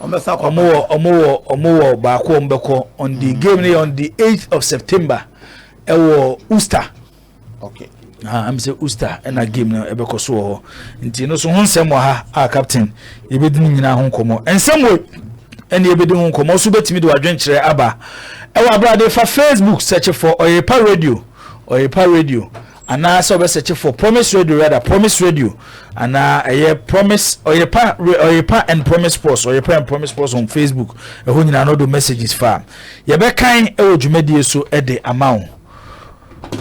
wɔwɔ baako wɔn bɛkɔ on the mm. game no yɛ on the eighth of september ɛwɔ usta okay. Ah, am sɛ usta ɛna game no ɛbɛkɔ so wɔ hɔ nti no so ho nsɛm wɔ ha a captain yɛbɛdi no nyinaa ho nkɔmmɔ nsɛm wɔ ɛne yɛbɛdi ho nkɔmmɔ so bɛtumi de wadwenkyerɛ aba ɛwɔ abrade fa facebook search for ɔyɛpa radio ɔyɛpa radio Anaa sɛ ɔbɛ sɛkye for promise radio rather promise radio anaa ɛyɛ promise ɔyɛpa ɔyɛpa and promise post ɔyɛpa and promise post on facebook ɛhɔ nyinaa no do messages fa yɛbɛkan ɛwɔ dwumadie so ɛde ama wo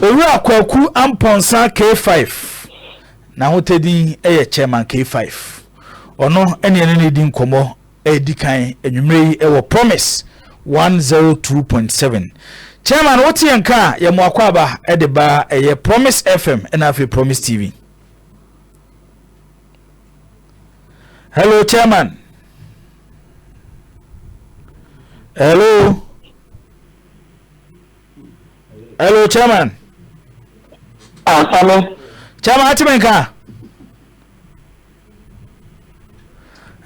owura kwaku ampɔnsa k5 n'ahotadin ɛyɛ chairman k5 ɔno ɛne ɛne ne di nkɔmmɔ Edi kan anwummere yi wɔ Promise one zero two point seven. Chairman, wo te yɛn nka a, yɛ mo akwaaba de ba ɛyɛ Promise FM ɛna afei Promise TV. Hello, Chairman. Hello. Hello, Chairman. Ah, Chairman, ati mi nka.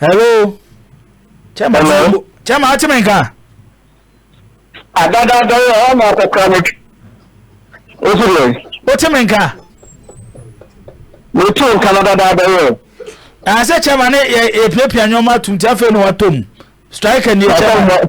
hello kyɛma Hello? kyɛma ate me nka adadaada yɛ hɔ na akɔkora no wosi deɛ wote me nka metu nka no dadaada yɛ ɛɛ sɛ kyɛma ne yɛ- yɛpiapia nneɛma atom nti afei na watɔ mu striker nie kyɛma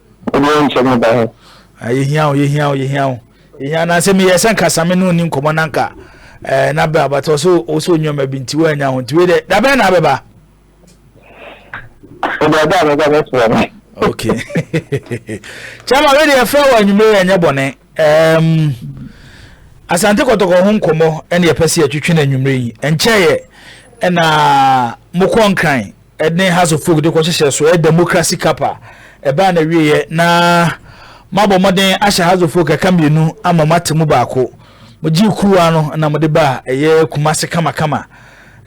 Obiara nkyɛ mo ba hɔ. Ah, yɛhia wo, yɛhia wo, yɛhia wo. Yɛhia na sɛ meyɛ sɛ nka same ne ɔni nkɔmmɔ na nka eh, na bɛ abatɔ so wo sɛ ɔnwuma bi nti woanya ho nti wei dɛ da bɛn na abɛba okay kyɛma wei deɛ ɛfrɛ wɔ anwummere ɛnyɛ bɔne um, asante kɔtɔkɔ ho nkɔmmɔ ɛne yɛpɛ sɛ yɛtwetwe no anwummere yi ɛnkyɛeɛ ɛna mokɔ nkran ne House of Folk de kɔhyehyɛ so, ɛyɛ Democracy Cup a ɛbaa n'awieeɛ na moabɔ mmɔden ahyɛ House of Folk ɛka mmienu ama moate mu baako. Mogyee kuruwa no na mode baa ɛyɛ Kumasi kamakama.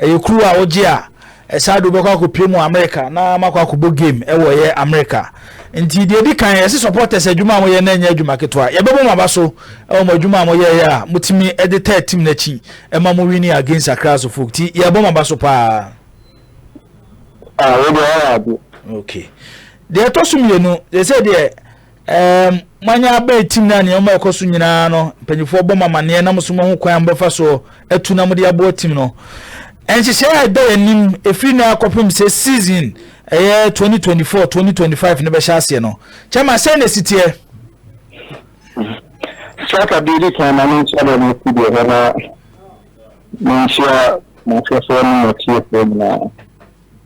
Ɛyɛ kuruwa a wogye a ɛsaa de wobɛkɔ akɔpie mu Amerika na moakɔ akɔbɔ game ɛwɔ ɛyɛ Amerika. Nti deɛ ɛdi kan yɛse supporters adwuma a moyɛ na ɛnyɛ adwuma ketewa. Yɛbɛbɔ mo aba so ɛwɔ mo adwuma a moyɛeɛ a motumi de taa tim no akyi ɛma mo winning against Accra House of Folk. Nti yɛbɔ mo aba so paa. Ah, wode ɔyɛ ade. Okay. Deɛ ɛtɔ so mmienu, sɛ deɛ ɛɛm moanya abɛn tim na nneɛma a ɛkɔ so nyinaa no, mpanyinfoɔ bɔ mo amaneɛ na mo so mo ho kwan a mobɛfa soɔ atu na mode aboa tim no. Nhyehyɛe a ɛda yɛn anim efiri na akɔpem sɛ season ɛyɛ 2024 2025 no bɛhyɛ aseɛ no. Kyɛma sɛ na esiteɛ. Sɛ aka bi di kan na ne nkyɛn na ne si deɛ na Munhyia m'ankasa ne m'atiefoɔ nyinaa.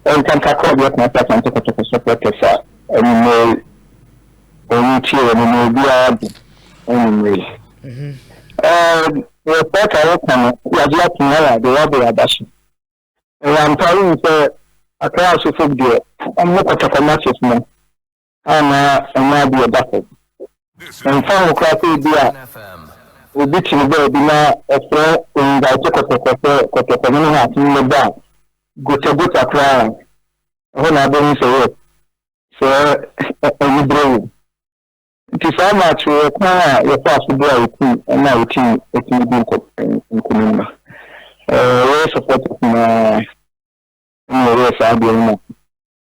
Ɛnka kakra bi atena sɛ Asante Kotoko supporters a anwummere yi wɔn tie wɔn na obiara adi anwummere yi. Ɛɛ pɛɛka a wɔka no yagye ato na yɛ adeɛ yɛde aba so. Ɛyɛ ampa yi sɛ akra asofo deɛ wɔn kɔtɔkɔ matches no anaa ɛnyɛ ade a ɛda fam. Ɛmfa ho koraa sɛ ebia obi kyere baabi na ɔfrɛ nguanto kɔtɔkɔ sɛ kɔtɔkɔ no ne haase no bɛbɔ a, gotagota koraa a, ɛhɔ na wobɛhu sɛ yes, sɛ anibere wom. Nti saa ma akyerɛ kwan a yɛfaa so boaa yɛn tim na yɛtumi yɛtumi di nkonim no. Ɛyɛ supporters nyinaa na ɛyɛ saa adeɛ no ma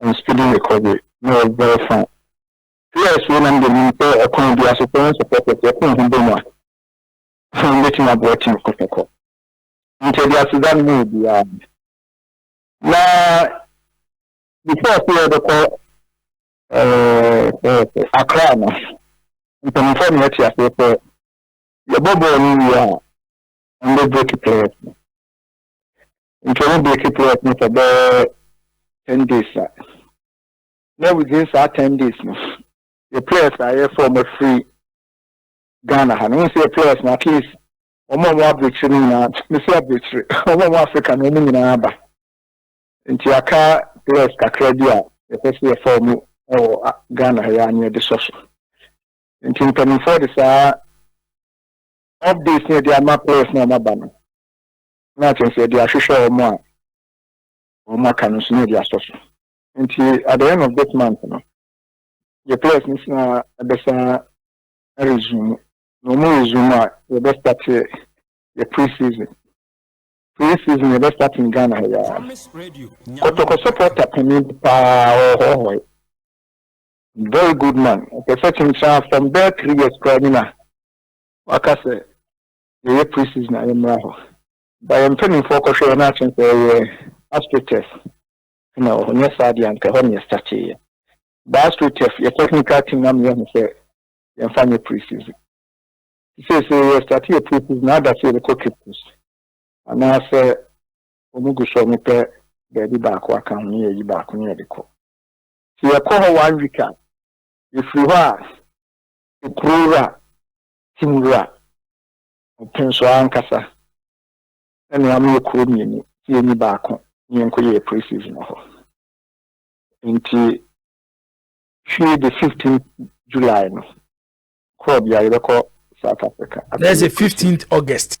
and speedy recovery na ɔyɛ very fine. Players wei na mede nim sɛ ɔkwan bi aso playing supporters yɛkɔ yɛn ho bɔ mu a ɛsan bɛtumi aboa team kɔkɔkɔ. Nti ɛde aseda no mu obiara na before sɛ yɛbɛkɔ akra no mpanimfoɔ na yɛte aseɛ sɛ yɛbɔ bɔɔl no wie a ɛmbɛ break players no Nkyɛ wo breaki clock no for bɛyɛ ten days a, na within saa ten days no, yɛ players a yɛfrɛ wɔn afiri Ghana ha no, wohu sɛ yɛ players no at least wɔn a wɔn abirikyiri no nyinaa, mesi abirikyiri, wɔn a wɔn Africa no wɔn nyinaa aba. Nti aka players kakra bi a yɛpɛ sɛ yɛfa wɔn wɔ Ghana ha yɛ a na yɛde sɔ so. Nti mpanimfoɔ de saa updates na yɛde ama players na wɔn aba no. na afei nso yɛde ahwehwɛ wɔn a wɔaka no nso na yɛde asɔ so nti at the end of this month no yɛ players no sina ɛbɛsa resume na wɔn resume a yɛbɛ start yɛ pre season pre season yɛbɛ start in ghana ha yaa kɔtɔkɔ supporter panin paa ɔhɔhɔe very good man ɔpɛ sɛ kyenkyen from there three years koraa nyina waka sɛ yɛyɛ pre season a yɛmmra hɔ but yɛn mpanimfoɔ kɔhwɛ yɛn na sɛ ɛyɛ aspirate test na wɔ hɔ nyɛ saa deɛ anka ɛhɔ ne yɛstate yɛ ba aspirate test yɛ technical team na meyɛ ho sɛ yɛmfa nyɛ pre season sɛ sɛ yɛ state yɛ pre season na ada sɛ yɛbɛkɔ cape coast anaasɛ wɔn gu so wɔn pɛ baabi baako aka ho ne yɛyi baako ne yɛde kɔ sɛ yɛkɔ hɔ one week a yɛfiri hɔ a ekuro wura tim wura ɔpon so ankasa. Na nea ɔno yɛ kurow mmienu sɛ yɛnyi baako na yɛnkɔ yɛ pre-season wɔ hɔ. Nti hwie de fifteenth July no kɔɔ bia yɛbɛkɔ South Africa. That's the fifteenth August.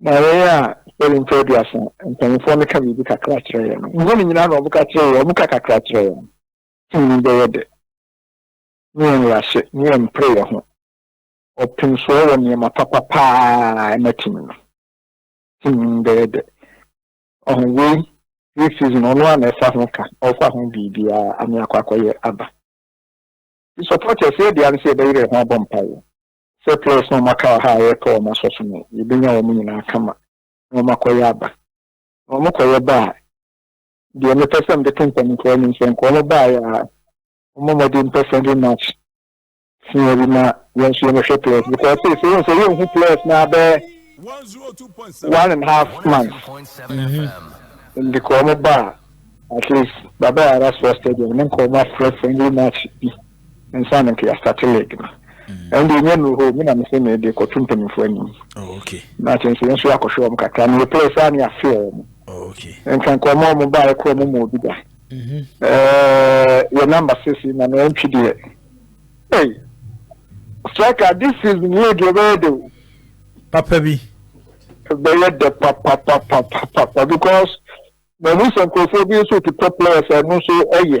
Na yɛn a yɛwɔ mfe aduasa mpanyimfoɔ no ka biribi kakra kyerɛ yɛn no, nhu no nyinaa na wɔka kyerɛ yɛn, wɔka kakra kyerɛ yɛn. Tumi bɛyɛ dɛ ne yɛn nworahyɛ ne yɛn mpreyɛ ho ɔpensoɔ wɔ nneɛma papa pa ara a ɛma tumi no. Tumi bɛyɛ dɛ. Ɔho wei, three season, ɔno a na ɛfa ho ka, ɔfa ho biribiara, ame akɔ akɔyɛ aba. Supporters yɛ deɛ ano sɛ yɛbɛyerɛ ho abɔ mpaeɛ. Sɛ players no a wɔaka wɔ ha a yɛrepɛ wɔn asɔ so no, yebenya wɔn nyinaa kama na wɔakɔyɛ aba. Na wɔkɔyɛ ba a, deɛ mepɛ sɛ mede to mpanyimfoɔ anim sɛ nka wɔbaeɛ a, wɔmmɔ mmɔden mpɛ friendly match tia bi ma yɛn nso yɛmmɛhwɛ players because sei sɛ wohu sɛ yɛnhu players no abɛɛ one and half month mm-hmm. nti ka wɔn ba a at least baba yɛ ara soɔ stadium ne nka wɔn afrɛ friendly match bi nsa no nka yɛastate league no mm. ɛno deɛ ɛnya nuru hɔ me na mese mede kɔto mpanimfoɔ anim oh, na kyɛn sɛ yɛnso yɛakɔhwɛ wɔn kakra na yɛpɛɛ saa ne yɛafe wɔn oh, nka nka ɔma ɔmo baeɛ kɔ ɔmo ma obi da mhm. yɛ namba sisi na na ɛntwi deɛ ei striker this season league ɛbɛyɛ de o papa bi ɛbɛyɛ dɛ papapapapapa because mahu sɛ nkurɔfoɔ bi nso ti pɔ players ɛno nso ɛyɛ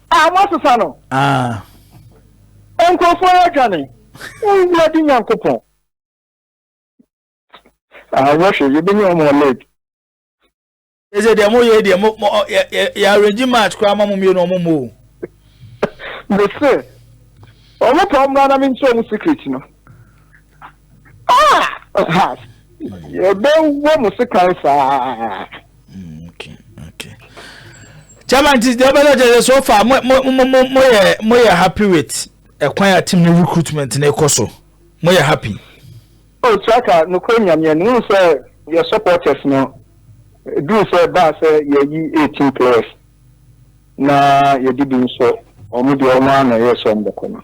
a wɔn asesa no nkurɔfoɔ yɛ adwane wowura di nyankopɔn awɔhwɛ yɛbɛnya wɔn wɔ lake ɛsɛ deɛ moyɛ deɛ yɛ arrange match koraa ma mo mmienu ɔmo mmɔ o mese ɔmo pa ɔmo na menkyerɛ ɔmo secret no Ah! Yɛbɛwɔ mo sekan saa. Mm, okay, okay. Chairman, ti deɛ ɔbɛn ɔkyɛ sɛ so far mo mo mo mo mo yɛ mo yɛ happy with ɛkwan a team ne recruitment ne kɔ so mo yɛ happy. o oh, traka nokora nyameɛ no wohu sɛ yɛ supporters no duru sɛ baa sɛ yɛyi 18 players na yɛde bi nso ɔmo deɛ ɔmo a na ɛyɛ sɛ ɔmo bɛkɔ no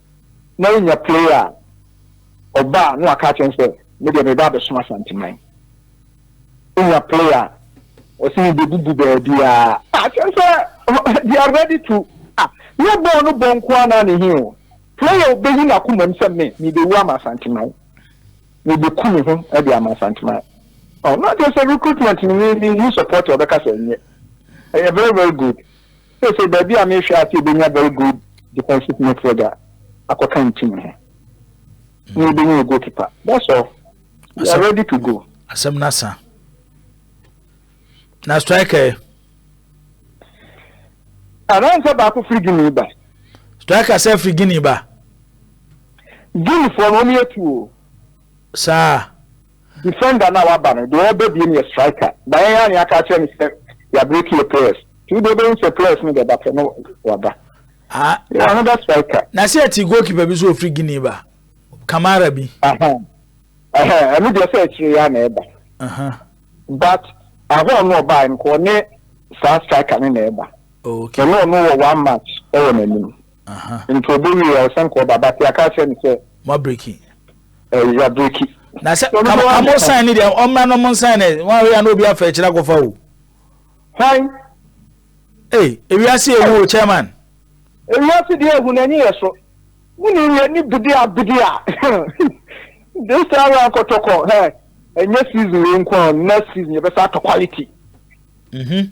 na yɛnya player a, ɔba a na waka akyerɛ no sɛ, me deɛ meba abɛsom Asanteman. Wonya player a, ɔse mebebubu baabiara. Ah, kyerɛ sɛ they are ready to ah, nyɛ bɔɔl no bɔ nko ara na he o. Player obeyi n'akoma mu sɛ me, mebewu ama Asanteman. Mebeku me ho de ama Asanteman. Oh, na kyerɛ sɛ recruitment no ne ne support a ɔbɛka sɛ nyɛ. Ɛyɛ very very good. Seesei baabi a merehwɛ ase yɛbɛnya very good defensive midfielder a akɔka ne team ho na yɛbɛnya yɛ goalkeeper that's all we are ready to go. asɛm no asa na striker anansɛ baako firi guinea ba striker sɛ firi guinea ba guineafoɔ no wɔyɛ tuo saa. Defender no a waba no, deɛ ɔreba bio no yɛ striker. But yɛn ara na yɛaka akyerɛ no sɛ yɛabreki yɛ players. Nti wode wobɛhu sɛ players no bɛba pɛ na waba. Ah, yɛ another striker. Na sɛ ɛte goalkeeper bi so ɔfiri Guinea ba, Kamara bi. Ɛno deɛ sɛ akyire yɛ a na ɛba. But ahɔn no ɔbaa no kɔ ne saa striker no na ɛba. Okay. Ɛno ɔno wɔ one match ɛwɔ n'anim. Aha. Nti obowie a ɔsan kɔ ɔba but yɛaka akyerɛ no sɛ. Mo abreki. Ɛɛ yɛ abreki. Na sɛ ka ka mo sign ne deɛ ɔmmra no mo sign ne wɔn ahwɛ ya na obi afɛ akyire akɔfa o. Sign. Ee ewiase ewu o chairman. Ewiase deɛ ehu na enyi yɛ so. Wuni yɛ ni bidi a bidi a. This time round kɔtɔkɔ hɛ ɛnyɛ season wei nko a next season yɛ bɛ sa atɔ quality. Mhm.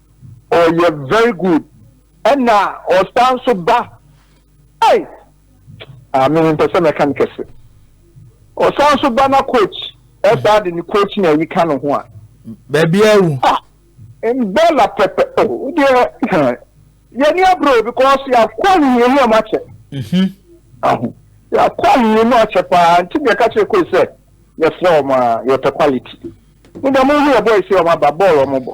ɔyɛ very good ɛna ɔsan nso ba ɛy maame ah, mpɛ sɛ mɛka no kɛse ɔsan nso ba na coach ɛsaa de ne coach na ayi ka ne ho a baabi awu ah, mbɛla pɛpɛ o oh, deɛ yɛni aburo because yɛakɔ ahihia mu ɔmo akyɛ mhm. aho yɛakɔ ahihia mu akyɛ paa nti deɛ ɛka kyerɛ koe sɛ yɛfrɛ ɔmo a yɛpɛ quality ne deɛ mo hu yɛ bɔɔl si ɔmo aba bɔɔl ɔmo bɔ.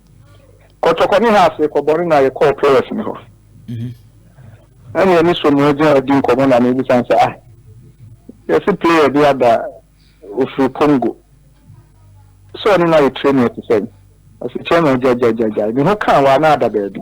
kɔtɔkɔ ne ha ase kɔbɔne na yɛkɔɔ pɔrɛs ne hɔ mhm. ɛne ɛne so ne ɔgyina adi nkɔmmɔ na mebisan sɛ ah yɛse player bi ada ɔfiri congo sɛ ɔne no ayɛ training ɛte sɛn ɔse kyɛn na gyagyagyagyagya ne ho kaa wɔ ana ada baabi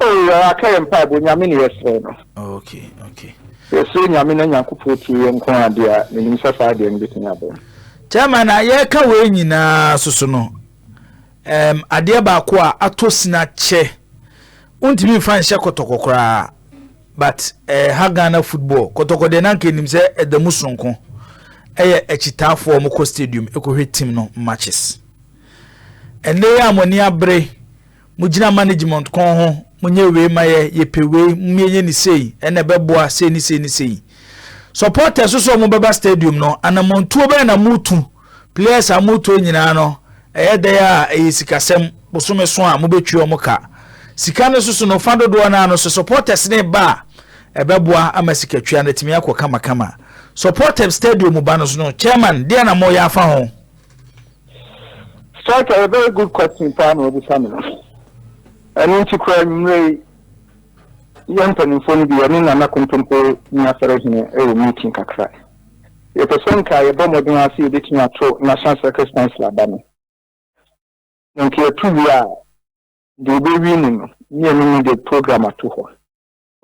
Oh yɛra ka yɛ mpaebɔ nyame ne yɛsrɛ no. Oh, okay, okay. Yɛsrɛ nyame na nyankopɔn tie yɛ nko adeɛ a menim sɛ saa adeɛ no bɛtumi abɛn. Chairman a yɛreka wei nyinaa soso no um, adeɛ baako a atɔ sina kyɛ wontumi mfa nhyɛ kɔtɔkɔ koraa but eh, ha Ghana football kɔtɔkɔ deɛ nanka anim sɛ ɛda mu sononko ɛyɛ akyitaafoɔ ɔmokɔ stadium ɛkɔhwɛ team no matches ɛnɛ yɛ a mo ani abere mo gyina management kɔn ho mo nyɛ wei ma yɛ yɛ pɛ wei mo yɛ nyɛ ne sei ɛna ɛbɛboa sei ne sei ne sei supporters nso a wɔbɛba stadium no anamontuo bɛyɛ na motu players a motuo nyinaa no ɛyɛ dɛn a ɛyɛ sikasɛm bosome so a mobɛtua wɔn ka sika no soso no fa dodoɔ no ano so supporters ne ba a ɛbɛboa ama sikatwia no atumi akɔ kamakama supporters stadium ba no so no chairman deɛ na moyɛ afa ho. Strike a very good question paa na wabisa me. Ɛno nti kora anwummerɛ yi yɛ mpanimfoɔ no bi yɛne Nana Kontompo ne asɔre hene ɛwɔ meeting kakra. Yɛpɛ sɛ nka yɛbɔ mmɔden ase yɛbɛtumi ato National Circus Council aba no. Na nka yɛto wie a deɛ yɛbɛwie mu no ne yɛne ne de program ato hɔ.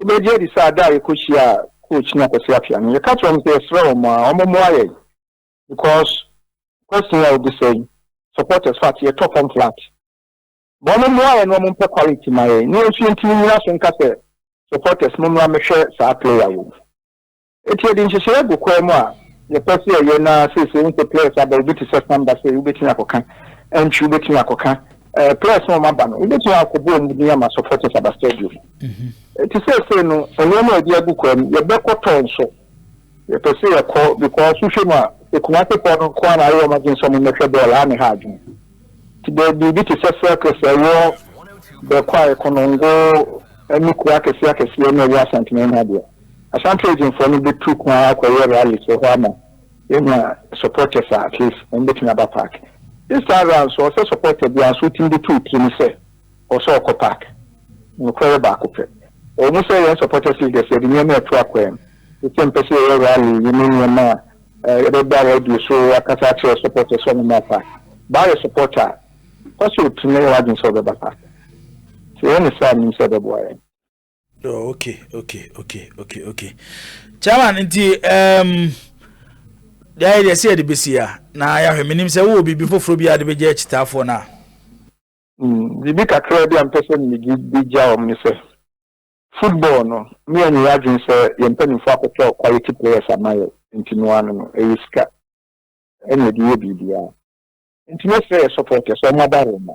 Wobɛgye adi sɛ ada a yɛkɔhyia coach ne akwasi apia no yɛka kyerɛ wɔn sɛ yɛsrɛ wɔn a wɔmmoa yɛn because question yi a wobisa yi supporters fat yɛ tɔ fam flat ma ɔmo mmoa yɛ na ɔmo mpɛ quality ma yɛ ne yɛnso yɛntumi nyina so nka sɛ supporters mo mmra mehwɛ saa player wei eti yɛde nhyehyɛeɛ agu kwan mu a yɛpɛ sɛ yɛyɛ na seesei wo sɛ players aba obi te sɛ samba sɛ wobɛtumi akɔka ɛntwi wobɛtumi akɔka ɛɛ eh, players na ɔmo aba no wobɛtumi akɔbɔ ɔmo din ama supporters aba stadium mhm. eti seesei no nneɛma a yɛde agu kwan mu yɛbɛkɔtɔ nso Yɛpɛ sɛ yɛkɔ because wohwɛ mu a, sɛ Kumasefo no nko ara na ayɛ wɔn adwene sɛ wɔmmɛhwɛ bɔɔl a, na ɛha adwene. Nti baabi biribi te sɛ Circus a ɛwɔ Bɛkwae, Konongo ne kuro akɛseɛ akɛseɛ na ɛwɔ Asante na ɛha deɛ, Ashanti Regionfoɔ no bɛtu kwan akɔyɛ rallies wɔ hɔ ama yɛanya supporters a at least wɔbɛtumi aba park. This time round nso, ɔsɛ supporter biara nso wotumi de to wo tirim sɛ Kɔ sɛ ɔkɔ park. Nokware baako pɛ. Ɛwɔ mu sɛ yɛn supporter figures yɛde nneɛma reto akwam, te sɛ mpɛ sɛ yɛyɛ rally yi ne nneɛma a yɛbɛba radio so akasa akyerɛ supporters sɛ wɔmmra park. Baa yɛ supporter a, fa sɛ otu na yɛ w'adwene sɛ ɔbɛba park. Sɛ yɛyɛ no saa a, nim sɛ ɛbɛboa yɛn. Oh, okay, okay, okay, okay, okay. Chairman, nti um, yɛayɛ deɛ sɛ yɛde bɛsi a na yɛahwɛ menim sɛ wowɔ biribi foforɔ bi a de bɛgya akyitaafoɔ no a Mm, biribi kakra bi a mpɛ sɛ mede bi gya wɔn ne sɛ, football no, me yɛn yɛ adwene sɛ yɛn mpanimfoɔ akɔtɔ quality players ama yɛ nti no ano no, ɛyɛ sika ɛna ɛde yɛ biribiara. Nti mɛsrɛ yɛ supporters wɔn aba Roma.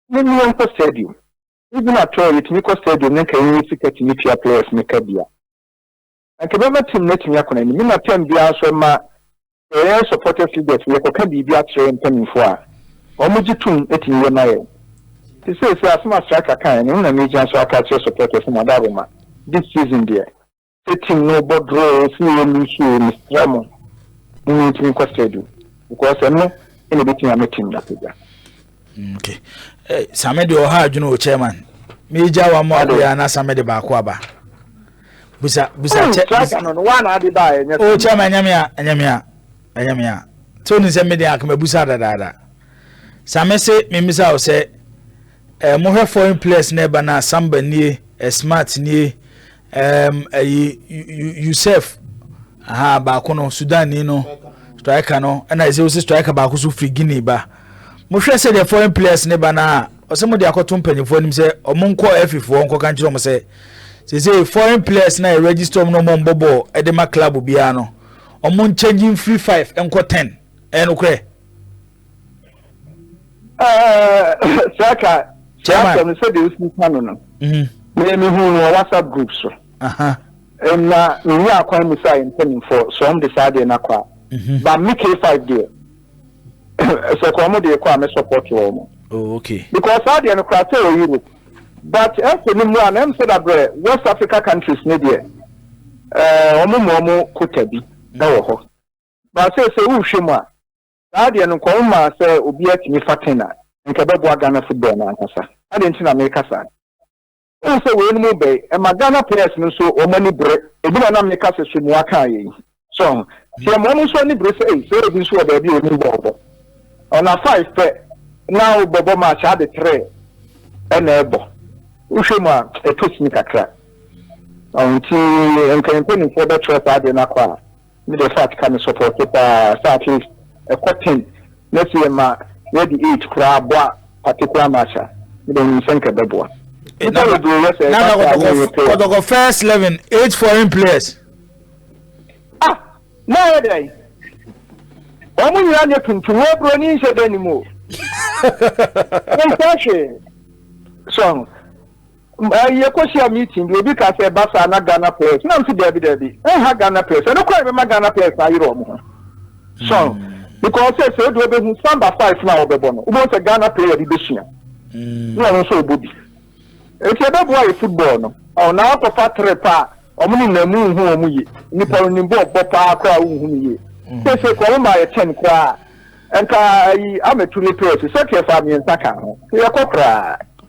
Ne ne yɛn kɔ stadium. Even at all yɛtumi kɔ stadium ne nka yɛn yɛ sika tumi tua players ne ka bia. anka ɛbɛma team no atumi akɔ n'anim. Ɛna term biara nso ɛma sɛ yɛyɛ supporters leaders no yɛkɔka biribi akyerɛ yɛn mpanimfoɔ a, wɔn gye tom tumi yɛ ma yɛn. Nti seesei asɛm a striker kaeɛ no, ɛno na megyina so aka akyerɛ supporters no, mada aboma. This season deɛ, sɛ team no bɔ draw o, sɛ yɛ lose o, mesrɛ mo, momma yɛntumi nkɔ stadium because ɛno na ɛbɛtumi ama team no apagya. Okay. Hey, eh, same deɛ ɔha adwene o chairman meegya wa ma ɔbea na same de baako aba busa busa hmm, kyɛ o chairman ɛnyɛ me a ɛnyɛ me a ɛnyɛ me a tí o ní sɛ mi de akama busa dadaada same se mímisa o sɛ ɛɛ eh, mo hwɛ foreign players na ɛba na samba nie ɛ eh, smart nie Um, ɛyi Yusuf aha baako no Sudan ni no striker no ɛna ɛsɛ wosi striker baako so firi Guinea ba mohwɛ sɛ deɛ foreign players ne ba no a ɔsɛ mo de akɔto mpanyinfoɔ anim sɛ ɔmo nkɔ afifoɔ nkɔka nkyerɛ ɔmo sɛ sese foreign players na yɛ register ɔmo na ɔmo mbɔ bɔɔl ɛde ma club biara no ɔmo nkyɛngye nfiri five nkɔ ten ɛyɛ nokorɛ. saka sasɛm sɛ deɛ wosi ka no no mehu no wɔ whatsapp group so na menni akwan mu sɛ ayɛ mpanimfoɔ sɛ ɔm de saa deɛ no akɔ a mhm. ba me k5 deɛ sɛ kɔ ɔmo deɛ kɔ a me support wɔ mo oh, because saa deɛ no kora sɛ wɔ europe but ɛsɛ no mu a na ɛm sɛ dabrɛ west africa countries ne deɛ ɔmo mu ɔmo kota bi ɛwɔ hɔ ba sɛ sɛ wohwɛ mu a Saa deɛ no nka ɔmo maa sɛ obiaa tumi fa ten a, nka ɛbɛboa Ghana football no ankasa. Adɛn nti na meka saa? Wohu sɛ wei nom bɛ ɛma Ghana players no nso ɔmo ani bere, ebi na na meka sɛ so mua kaa yɛ yi. So ho? Nti ɛma ɔmo nso ani bere sɛ ei sɛ obi nso wɔ baabi a onim bɔɔl bɔ. Ɔna five pɛ na wo bɛbɔ match a ade three ɛna ɛbɔ. Wohwɛ mu a ɛtɔ sini kakra. Ɔho nti nka mpanyinfoɔ bɛtra saa adeɛ no akɔ a Me deɛ fat ka me sɔpɔte paa sɛ at least ɛkɔ ten na sɛ yɛ ma yɛde eight koraa bɔ a particular match a me deɛ menim sɛ nka ɛbɛboa. Nipa bebree yɛ sɛ ɛba sɛ a ne yɛ pay. Kɔtɔkɔ first eleven eight foreign players. Ah, na yɛ dɛ. Wɔn nyinaa nyɛ tuntum wɔ buroni nhyɛ dɛ ne mu o. Nsa hwee. Sɔn. Yɛkɔhyia meeting bi, obi kaa sɛ ɛba saa na Ghana Players, na mese daabi daabi, ɛnha Ghana Players, ɛno koraa na ɛbɛma Ghana Players no ayere wɔn ho. So, because sɛ sɛ wode wobɛhu samba five no a wɔbɛbɔ no, wobɛhu sɛ Ghana player bi bɛsua, na ɔno nso ɔbɔ bi. Enti ɛbɛboa yɛ football no, ɔna akɔfa trip a wɔn ne namu nhu wɔn yie, nipa no nim bɔ ɔbɔ paa koraa wonhu no yie. Sɛ sɛ kɔ wɔn ma yɛ ten koraa, nka ayi amɛtu ne players, sɛ tiɛ fa mmiɛnsa ka ho, yɛkɔ koraa.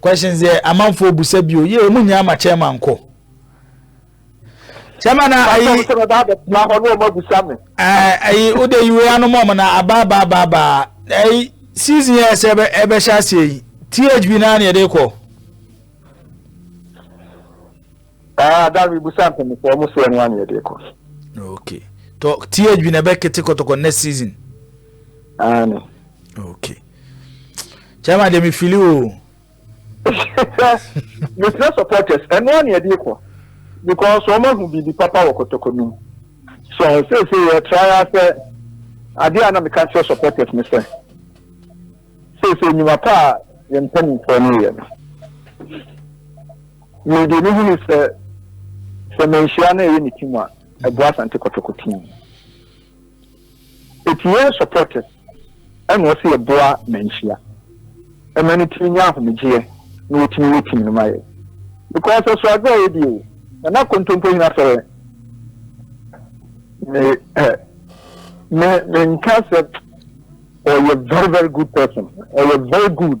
Questions yɛ amanfoɔ busa bio yɛ ɔmu nyɛ ama chairman nkɔ chairman na ayi ayi wode yiwe anom ɔmo na abaabaabaa ayi season yɛ sɛ ɛbɛhyɛ aseɛ yi thb naa na yɛde kɔ Ah, that we busa mpem for almost one one year deko. Okay. To tie bi na be kete kotoko next season. Ah no. Okay. Chama de me fili o. You still supporters. And one year deko. Because someone who be the papa wo kotoko no. So I say say you try as a ade a na me ka kyerɛ supporters ne sɛ sɛ sɛ nnwuma pa a yɛn mpanimfoɔ no yɛ no Mede no hunu sɛ sɛ manhyira na ɛyɛ ne ti mu a, ɛboa Asante Kɔtɔkɔ team. Eti yɛn supporters ɛna ɔsɛ yɛboa manhyia. Ɛma ne tiri nya ahomegyeɛ na wɔtumi yɛ team no ma yɛ. Because ɛso adze a yɛdi o, nana kontompo hina sɛ me ɛ me me nka sɛ ɔyɛ very very good person, ɔyɛ very good.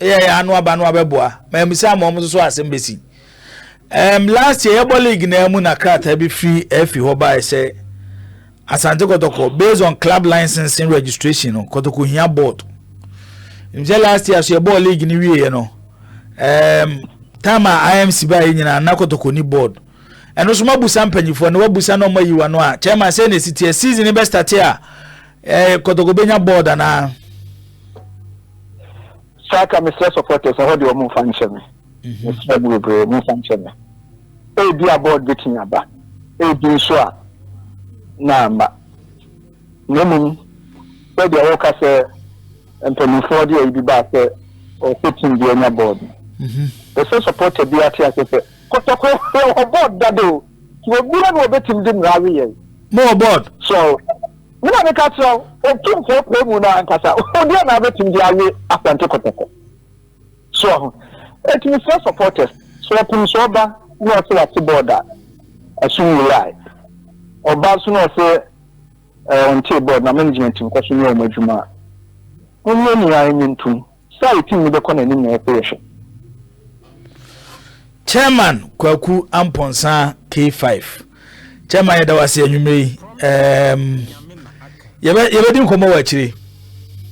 Yɛ yɛ ano aba no abɛboa ma amisa ama wɔn nso so asɛm bɛsi. Um, last year yɛbɔ league na mu na krataa bi firi afi hɔ bae sɛ asante kɔtɔkɔ based on club licensing registration no kɔtɔkɔ hia board nkyɛ last year so yɛbɔ league no wieɛ no um, time a imc baeɛ nyinaa na kɔtɔkɔ ni board ɛno so mabusa mpanyifoɔ na wabusa na ɔma yiwa no a chairman sɛ na ɛsi teɛ season no bɛstate a Eh, Kotoko benya board anaa? Saka mesrɛ supporters ɛhɔ deɛ ɔmo nfa nhyɛ me. Mhm. Mesrɛ mo bebree ɔmo nfa nhyɛ me. Ebi a board betumi aba. Ebi nso a na ama. Na mmom sɛdeɛ wɔka sɛ mpanimfoɔ deɛ ebi baa sɛ ɔsɛ team bi anya board. Ɛsɛ mhm. supporter bi ate ase sɛ kɔtɔkɔ ɛwɔ board dada o. Yɛ bia na wɔbɛtim de mmara we yɛn. Mo wɔ board. Sɛ o. Me na meka kyerɛ wo, otumfoɔ apue mu no ankasa. Odeɛ na abɛtim de awe Asante Kotoko. So ho. Eti mesrɛ supporters, sɛ ɔpem sɛ ɔba na ɔse wate board a, ɛso nwurae. Ɔba nso na ɔse ɔntee board na management nkɔso nyɛ wɔn adwuma a, monyɛ nea enye ntom. Saw team no bɛkɔ n'anim na yɛsɛ yɛhwɛ. Chairman Kwaku Ampɔnsa K5 Chairman yɛda wase anwummerɛ yi um, yɛbɛdi nkɔmmɔ wɔ akyire.